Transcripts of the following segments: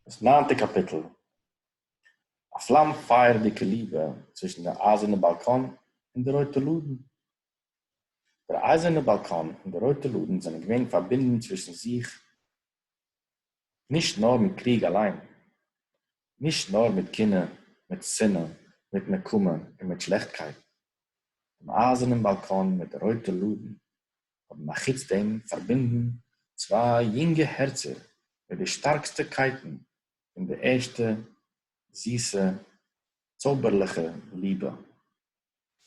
דאס ניינטע קאפיטל, א פלאם פייערדיגע ליבע צווישן דער אייזערנע באלקאן און דער רויטע לאדן. דער אייזערנע באלקאן און דער רויטע לאדן זענען געווען פארבינדן צווישן זיך נישט נאר מיט קריג אליין, נישט נאר מיט קנאה, מיט שנאה, מיט נקמה און מיט שלעכטקייט. דעם אייזערנעם באלקאן מיט דער רויטע לאדן האבן אחוץ דעם פארבינדן צוויי יונגע הערצער מיט די שטארקסטע קייטן פון די ערשטע זיסע צויבערליכע ליבע.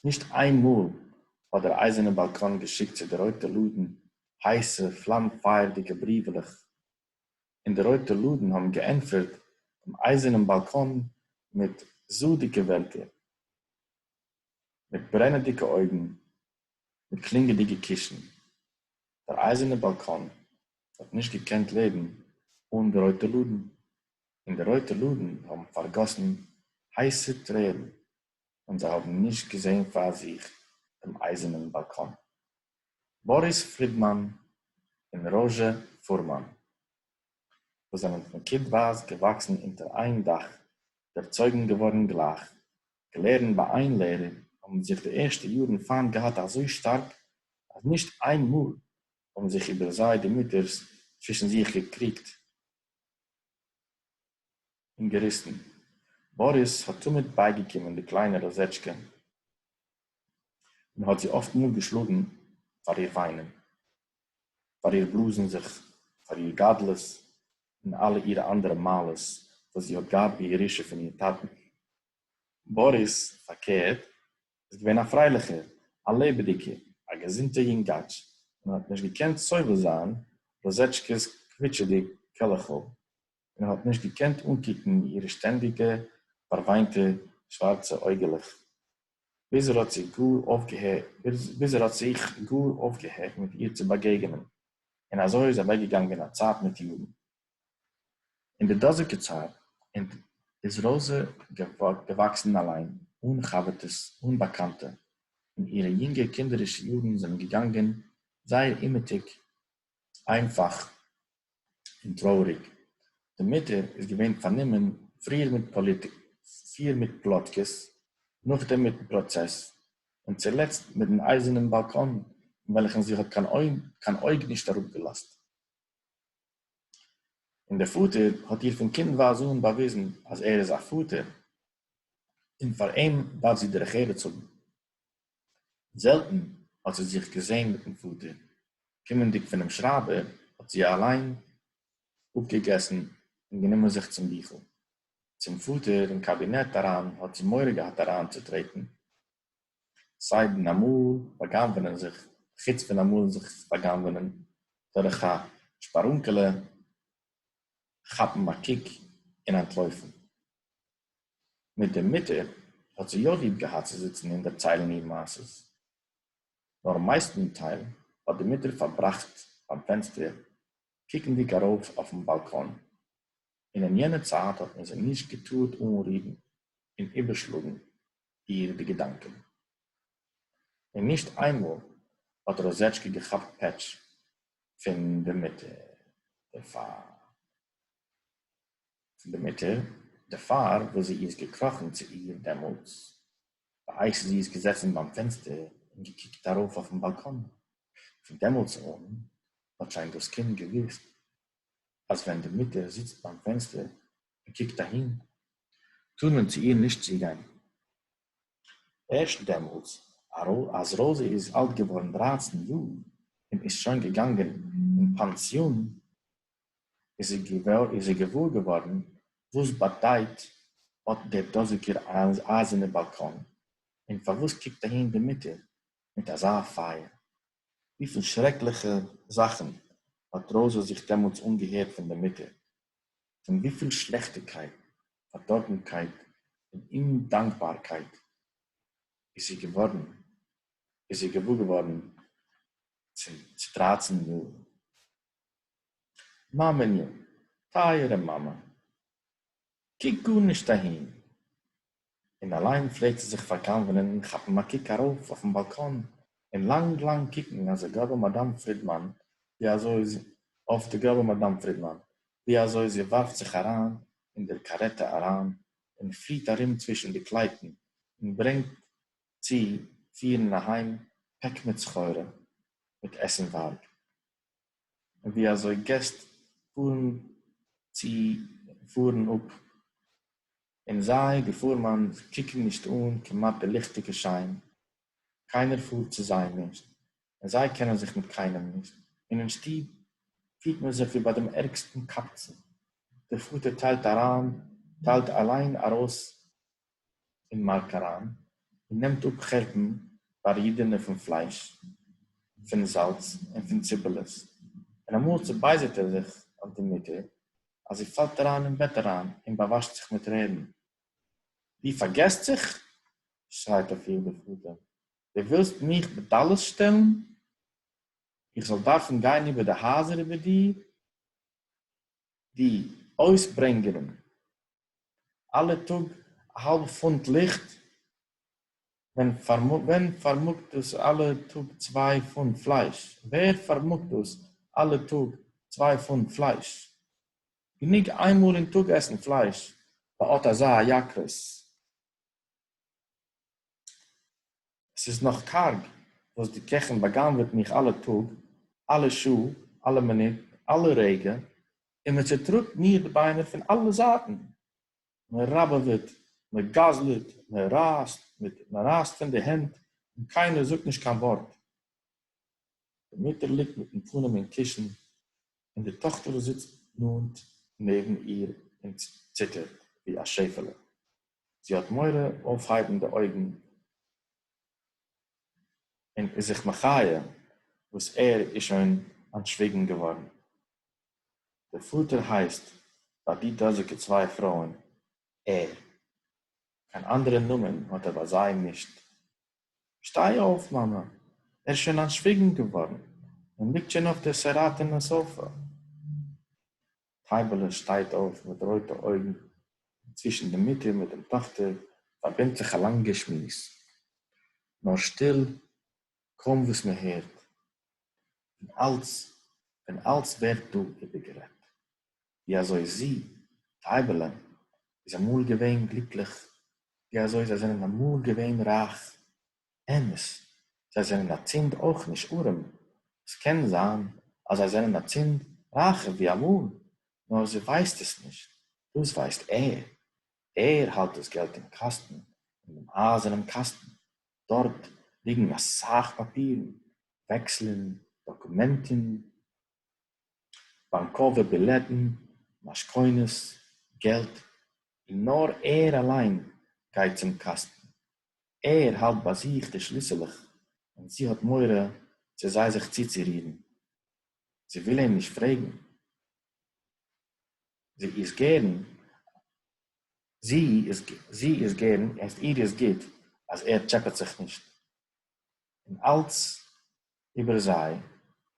נישט איין מאל האט דער אייזערנע באלקאן געשיקט צו די רויטע לאדן הייסע פלאם פייערדיגע בריוועלעך, און די רויטע לאדן האבן געענטפערט דעם אייזערנעם באלקאן מיט זאדיגע ווערטער, מיט ברענעדיגע אויגן די קלינגעדיגע קישן, דער אייזערנע באלקאן האט נישט געקענט לעבן אן די רויטע לאדן, און די רויטע לאדן האבן פארגאסן הייסע טרערן, און זיי האבן נישט געזען פאר זיך דעם אייזערנעם באלקאן. באריס פרידמאן און ראזשע פורמאן. וואָס זענען פֿון קינדווײַז געוואַקסן אונטער איין דאַך, דערצויגן געוואָרן גלײַך, געלערנט בײַ איין לערער, האָבן זיך די ערשטע יאָרן פֿײַנט געהאַט אַזוי שטאַרק, אַז נישט איין מאָל האָבן זיך איבער זיי די מוטערס צווישן זיך געקריגט און געריסן. באָריס האָט תּמיד בײַגעקומען די קליינע ראָזעטשקע און האָט זי אָפֿט מאָל געשלאָגן פֿאַר איר וויינען. פאר איר בלאזן זיך פאר איר גדלות און אלע אירע אנדערע מעלות וואס זי האט געהאט בירושה פון איר טאטן. באריס, פארקערט, איז געווען א פרייליכער, א לעבעדיגער, א געזונטער יונגאטש און האט נישט געקענט סובל זיין רוזשקע'ס קוויטשעדיג קעלעכל. און האָט נישט געקענט אָנקוקן אירע שטענדיקע פֿאַרװײנטע שװאַרצע אױגעלעך, ביז ער האָט זי גאָר אױפֿגעהערט, ביז ער האָט זיך גאָר אױפֿגעהערט מיט איר צו באַגעגענען. און אַזױ איז אַװעקגעגאַנגען אַ צײַט מיט יאָרן. אין דער דאָזיקער צײַט איז ראָזע געװאַקסן אַלײן, אָן חבֿרטעס, אָן באַקאַנטע, און אירע יונגע קינדערישע יאָרן זענען געגאַנגען זײער אומעטיק איינפאך און טרויעריג. די מוטער איז געווען פארנומען פריער מיט פאליטיק, פיר מיט פלאטקעס, נאכדעם מיטן פראצעס, און צולעצט מיט דעם אייזערנעם באלקאן אין וועלכן זי האט קיין אויג נישט אראפגעלאזט. און דער פאטער האט איר פון קינדווייז אן באוויזן אז ער איז א פאטער, און פאר אים דארף זי דרך ארץ האבן. זעלטן האָט זי זיך געזען מיט דעם פֿאָטער. קומענדיק פֿונעם שרײַבער, האָט זי אַלײן אָפּגעגעסן און גענומען זיך צום ביכל. צום פֿאָטער אין קאַבינעט אַרײַן האָט זי מורא געהאַט אַרײַנצוטרעטן, סײַדן אַ מאָל באַגנבֿענען זיך, חוץ פֿון אַ מאָל זיך באַגנבֿענען דורך אַ שפּאַרונקעלע, כאַפּן אַ קוק און אַנטלױפֿן. מיט די מוטער האט זי יא ליב געהאט צו זיצן און דערציילן איר מעשות, נאר מייסטנטייל האט די מוטער פארבראכט ביים פענסטער קוקנדיג ארויף אויפן באלקאן, און אין יענע צייט האט מען זי נישט געטארט אנרירן און איבערשלאגן איר די געדאנקען. און נישט איינמאל האט ראזעטשקע געכאפט פעטש פון די מוטער דערפאר. פֿון דער מוטער, דערפֿאַר, װאָס זי איז געקראָכן צו איר דעמאָלטס, בעת זי איז געזעסן בײַם פֿענצטער און געקוקט אַרױף אױפֿן באַלקאָן. פֿון דעמאָלטס אָן האָט שױן דאָס קינד געװוּסט, אַז װען די מוטער זיצט בײַם פֿענצטער און קוקט אַהין, טאָר מען צו איר נישט צוגײן. ערשט דעמאָלטס, אַז ראָזע איז אַלט געװאָרן דרײַצן יאָר און איז שױן געגאַנגען אין פּאַנסיאָן, איז ער געוואר געווארן וואס באדייט אט דער דאזיגער אייזערנער באלקאן, און פארוואס קוקט אהין די מוטער מיט אזא פייער. וויפיל שרעקליכע זאכן האט ראזע זיך דעמאלטס אנגעהערט פון דער מוטער, פון וויפיל שלעכטיקייט, פארדארבנקייט און אומדאנקבארקייט איז זי געווארן, איז זי געוואר געווארן צו דרייצן יאר מאַמעניו, טײַערע מאַמע, קוק גאָרנישט אַהין! און אַלײן פֿלעגט זי זיך פֿאַרגנבֿענען און כאַפּן אַ קוק אַרױף אױפֿן באַלקאָן און לאַנג-לאַנג קוקן אױף די גראַבע מאַדאַם פֿרידמאַן, װי אַזױ זי אױף די גראַבע מאַדאַם פֿרידמאַן, װי אַזױ זי װאַרפֿט זיך אַרײַן אין דער קאַרעטע אַרײַן און פֿליט אַרום צװישן די קלײטן און ברענגט צו פֿירן אַהײם פּעק מיט סחורה, מיט עסנװאַרג, ווי אזוי געסט פארן צו פארן אפ, און זיי, די פורמאן, קוקן נישט אן כמעט די ליכטיגע שיין, קיינער פארט צו זיי נישט, און זיי קענען זיך מיט קיינעם נישט, און אין שטוב פירט מען זיך ווי ביי דעם ערגסטן קבצן, דער פאטער טיילט אריין, טיילט אליין ארויס אין מארק אריין און נעמט אפ חורבן בארידענע פון פלייש פון זאלץ און פון ציפעלעס און אמאל צובייזערט ער זיך אויף די מוטער אז זי פאלט אריין אין בעט אריין און באוואשט זיך מיט טרערן די פארגעסט זיך שרייט אויף איר די פאטער די ווילסט מיך בטלות שטעלן איך זאל דארפן גיין איבער די הייזער איבער דיר די אויסברענגערן. אלע טאג א האלב פונט ליכט, ווען פארמאגט דאס אלע טאג צוויי פונט פלייש? ווער פארמאגט דאס אלע טאג צוויי פונט פלייש? גענוג איינמאל אין טאג עסן פלייש, ביי אט אזא הייקרס. עס איז נאָך קאַרג, װאָס די קעכן באַגנבֿעט מיך אַלע טאָג, אַלע שעה, אַלע מינוט, אַלע רגע, און מע צעטראָגט מיר די בײנער פֿון אַלע זײַטן. מע ראַבעװעט, מע גזלט, מע רײַסט מיט, מע רײַסט פֿון די הענט, און קײנער זאָגט נישט קײן װאָרט. די מוטער ליגט מיטן פּנים אין קישן, און די טאָכטער זיצט נאָענט נעבן איר און ציטערט, װי אַ שעפֿעלע. זי האט מורא אויפהייבן די אויגן און איז זיך מחיה וואס ער איז שוין אנטשוויגן געווארן. דער פאטער הייסט ביי די דאזיגע צוויי פרויען ער, קיין אנדערע נאמען האט ער ביי זיי נישט. שטיי אויף, מאמע, ער איז שוין אנטשוויגן געווארן און ליגט שוין אויף דער סעראטענע סאפע. טײַבעלע שטײט אױף מיט רױטע אױגן, און צװישן די מוטער מיט דעם טאָכטער פֿאַרבינדט זיך אַ לאַנגער שמועס, נאָר שטיל, קױם װאָס מע הערט, און אַלץ, פֿון אַלץ װערט דאָ איבערגערעדט, װי אַזױ זי, טײַבעלע, איז אַמאָל געװען גליקלעך, װי אַזױ זײ זענען אַמאָל געװען רײַך, אמת, זיי זענען אצינד אויך נישט ארעם, עס קען זיין אז זיי זענען אצינד רייכער ווי אמאל, נאר זי ווייסט עס נישט, דאס ווייסט ער, ער האלט דאס געלט אין קאסטן, אין דעם אייזערנעם קאסטן, דארט ליגן אסאך פאפירן, וועקסלען, דאקומענטן, באנקאווע בילעטן, משכונות, געלט, און נאר ער אליין גייט צום קאסטן, ער האַלט בײַ זיך די שליסעלעך און זי האָט מורא צו זײ זיך צוצורירן. זי װיל אים נישט פֿרעגן. זי איז גערן, זי איז, זי איז גערן, און פֿאַר איר איז גוט, אַז ער טשעפּעט זיך נישט. און אַלץ איבער זײ,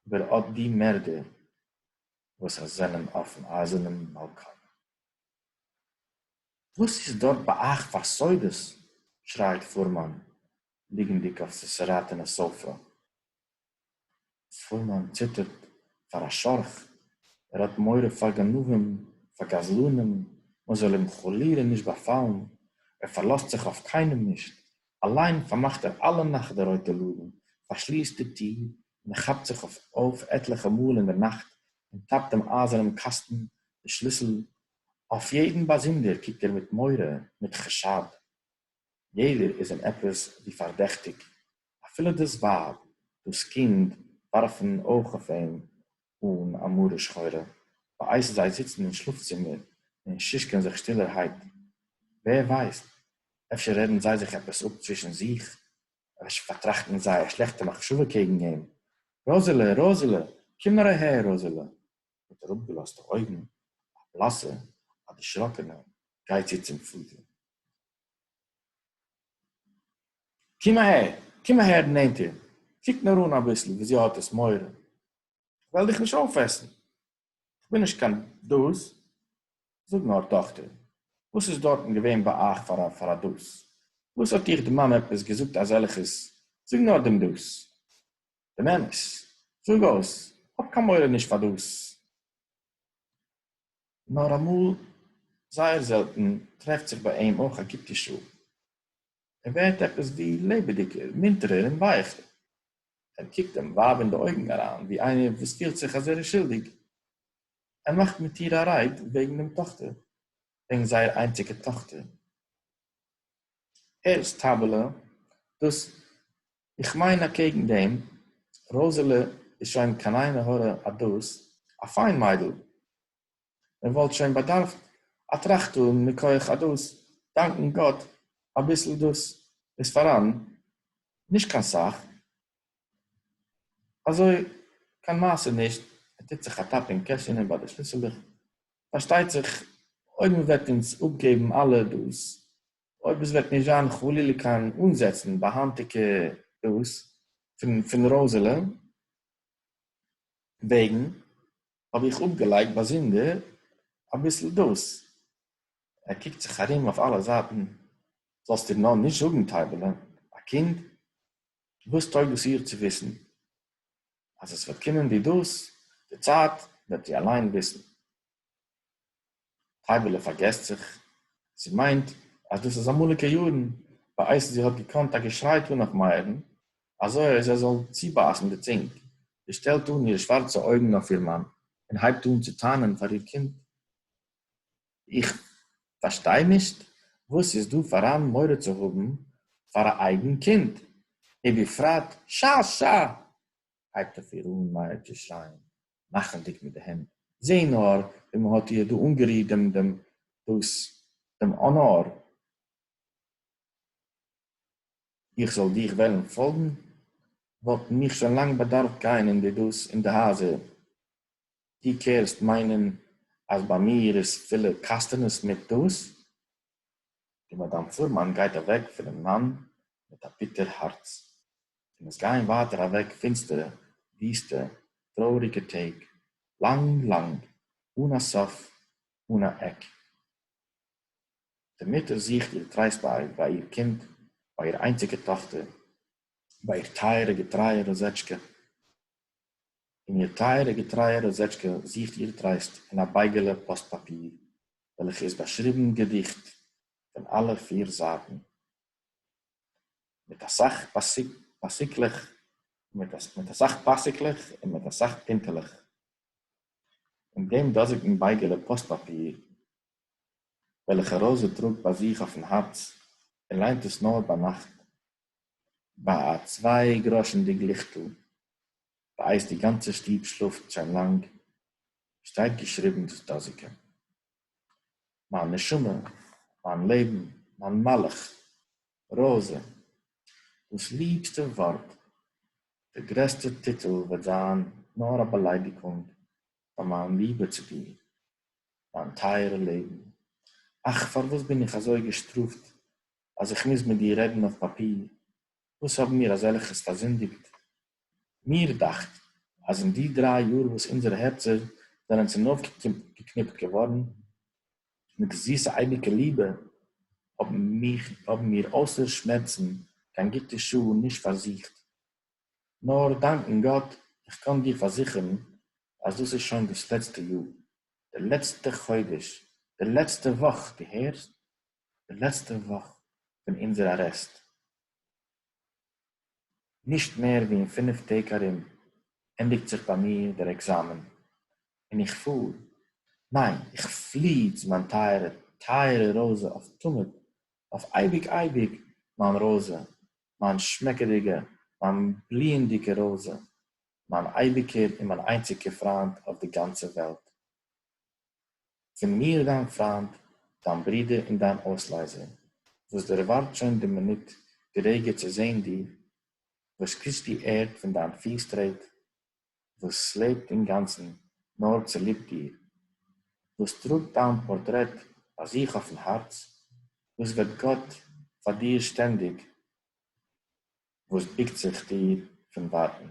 איבער אָט די מערדער, װאָס זײַנען אױפֿן אײַזערנעם באַלקאָן. וואָס איז דאָרט בײַ אײַך פֿאַר סודות? שרײַט פֿורמאַן, ליגנדיק אויף סעסעראַטענע סאָפֿע. פֿורמאַן ציטערט פֿאַר אַ שאָרך. ער האָט מורא פֿאַר גנבֿים, פֿאַר גזלנים, מע זאָל אים חלילה נישט באַפֿאַלן. ער פֿאַרלאָזט זיך אויף קיינעם נישט. אַליין פֿאַרמאַכט ער אַלע נאַכט די רויטע לאָדן, פֿאַרשליסט די טיר, און ער כאַפּט זיך אױף עטלעכע מאָל אין דער נאַכט און טאַפּט דעם אײַזערנעם קאַסטן די שליסל. אױף יעדן באַזונדער קוקט ער מיט מורא, מיט חשד. יעדער איז אים עפּעס װי פֿאַרדעכטיק. אַפֿילו דאָס װײַב, דאָס קינד װאַרפֿן אױך אױף אים אָן אַ מרה שחורה, בעת זײ זיצן אין שלאָפֿצימער און שישקען זיך שטילערהײט. װער װײסט, אפֿשר רעדן זײ זיך עפּעס אָפּ צװישן זיך, ר' ישעי' פארטראכט מיט זייער שלעכטע מחשבה קעגן אים, ראזעלע, ראזעלע, קום נאר אהער, ראזעלע, מיט אראפגעלאזטע אויגן, א בלאסע, א דערשראקענע, גיי צו צום פאטער. קום אהער, קום אהער נענטער, קוק נאר אן אביסל ווי זי האט עס מורא, איך וועל דיך נישט אויפעסן, כ'בין נישט קיין דאָס, זאָג נאָר, טאָכטער, װאָס איז דאָרטן געװען בײַ אײַך פֿאַר אַ, פֿאַר אַ דאָס? װאָס האָט איר די מאַמע עפּעס געזאָגט אַזעלכעס? זאָג נאָר דעם דאָס, דעם אמת, זאָג אױס, האָב קײן מורא נישט פֿאַר דאָס! נאָר אַמאָל, זײער זעלטן, טרעפֿט זיך בײַ אים אױך אַ גוטע שעה. ער ווערט עפּעס ווי לעבעדיקער, מונטערער און ווייכער. ער קוקט דעם ווייב אין די אויגן אַרײַן, ווי איינער, וואָס פֿילט זיך, אַז ער איז שולדיק. ער מאַכט מיט איר אַ רייד וועגן דעם טאָכטער, וועגן זייער איינציקער טאָכטער. הערסט, טײַבעלע, דאָס, איך מיין, אַקעגן דעם, ראָזעלע איז שוין קיין עין-הרע אַ דאָס, אַ פֿיין מיידל! ער וואלט שוין באדארפט א טראכט אן מכח אדאס, דאנקן גאט אביסל דאס איז פאראן, נישט קיין סאך, אזוי קיין מעשה נישט, ער טוט זיך א טאפ אין קעשענע ביי די שליסעלעך, פארשטייט זיך אויב מען וועט אונז אפגעבן אלע דאס, אויב עס וועט נישט זיין חלילה קיין אנזעצן ביי היינטיגע דאס פון פון רוזעלע וועגן. האב איך אפגעלייגט באזונדער אביסל דאס. ער קוקט זיך ארום אויף אלע זייטן, זאלסט איר נאר נישט זאגן, טייבעלע, א קינד, וואס טויג עס איר צו וויסן? אז עס וועט קומען דיר דאס, די צייט, וועט זי אליין וויסן. טײַבעלע פֿאַרגעסט זיך. זי מײנט, אַז דאָס איז אַמאָליקע יאָרן, בײַ אײַזן. זי האָט געקאָנט אַ געשרײ טאָן אױף מאירן, אַזױ אַז ער זאָל צובײַסן די צונג. זי שטעלט אָן אירע שװאַרצע אױגן אױף איר מאַן און הײבט אָן צו טענהן פֿאַר איר קינד. איך פֿאַרשטײ נישט, װאָס איז דאָ פֿאַראַן מורא צו האָבן פֿאַר אַ אײגן קינד? און בפֿרט שאַ-שאַ! הײבט אױף איר אָן מאיר צו שרײַען. מאכנדיג מיט די הענט, זע נאר ווי מען האט איר דא אנגערירט דעם דעם דאס דעם אנער, איך זאל דיך וועלן פאלגן, וואלטן מיך שוין לאנג באדארפט גיין אין די דאס אין די הייזער, דו קערסט מיינען אז ביי מיר איז פילע קאסטענעס מיט דאס, די מאַדאַם פֿורמאַן גײט אַװעק פֿונעם מאַן מיט אַ ביטער האַרץ, און עס גײען װײַטער אַװעק פֿינצטערע, װיסטע, טרױעריקע טעג, לאַנג, לאַנג, אָן אַ סוף, אָן אַ עק. די מוטער זוכט איר טרײסט בײַ, בײַ איר קינד, בײַ איר אײנציקע טאָכטער, בײַ איר טײַערע, געטרײַע ראָזעטשקע. און איר טייערע געטרייע ראָזעטשקע זוכט איר טרייסט אין אַ בייגעלע פּאָסט-פּאַפּיר, וועלכע איז באַשריבן געדיכט פון אַלע פיר זייטן, מיט אַ סך פּאַסיקלעך און מיט אַ סך פּינטעלעך. אין דעם דאָזיקן בייגעלע פּאָסט-פּאַפּיר, וועלכע ראָזע טראָגט ביי זיך אויפן האַרץ און ליינט עס נאָר ביינאַכט, ביי א צוויי גראשענדיג ליכטל ביי אייס די גאנצע שטוב שלאפט שוין לאנג שטייט געשריבן דאס דאזיקע מיין נשמה מיין לעבן מיין מלאך ראזע דאס ליבסטע ווארט די גרעסטע טיטל וועט זיין נאר א באליידיקונג פאר מיין ליבע צו דיר מיין טייערע לעבן אך פארוואס בין איך אזוי געשטראפט אז איך מוז מיט דיר רעדן אויף פאפיר, וואס האבן מיר אזעלכעס פארזינדיגט? מיר דאכט אז אין די דריי יאר וואס אונזערע הערצער זענען צונויפגעקניפט געווארן מיט זיסע אייביקע ליבע, האבן מיר אויסער שמערצן קיין גוטע שעה נישט פארזוכט. נאר דאנקן גאט, איך קען דיר פארזיכערן אז דאס איז שוין דאס לעצטע יאר, דער לעצטער חודש, דער לעצטער וואך, דו הערסט? די לעצטע וואך פון אונזער ארעסט, נישט מער ווי אין פינף טעג ארום ענדיגט זיך ביי מיר דער עקזאמען, און איך פאר, ניין, איך פלי צו מיין טייערע טייערע ראזע אויף תמיד, אויף אייביג אייביג, מיין ראזע, מיין שמעקעדיגע, מיין בליענדיגע ראזע, מיין אייביגער און מיין איינציגער פריינד אויף די גאנצע וועלט. פֿון מיר דײַן פֿרײַנד, דײַן ברודער און דײַן אױסלײזער, װאָס דערװאַרט שױן די מינוט, די רגע צו זען דיר, װאָס קוסט די ערד פֿון דײַן פֿיס-טרעט, װאָס לעבט אין גאַנצן נאָר צוליב דיר, װאָס טראָגט דײַן פּאָרטרעט בײַ זיך אױפֿן האַרץ, װאָס װעט גאָט פֿאַר דיר שטענדיק, װאָס בוקט זיך דיר פֿון װײַטן.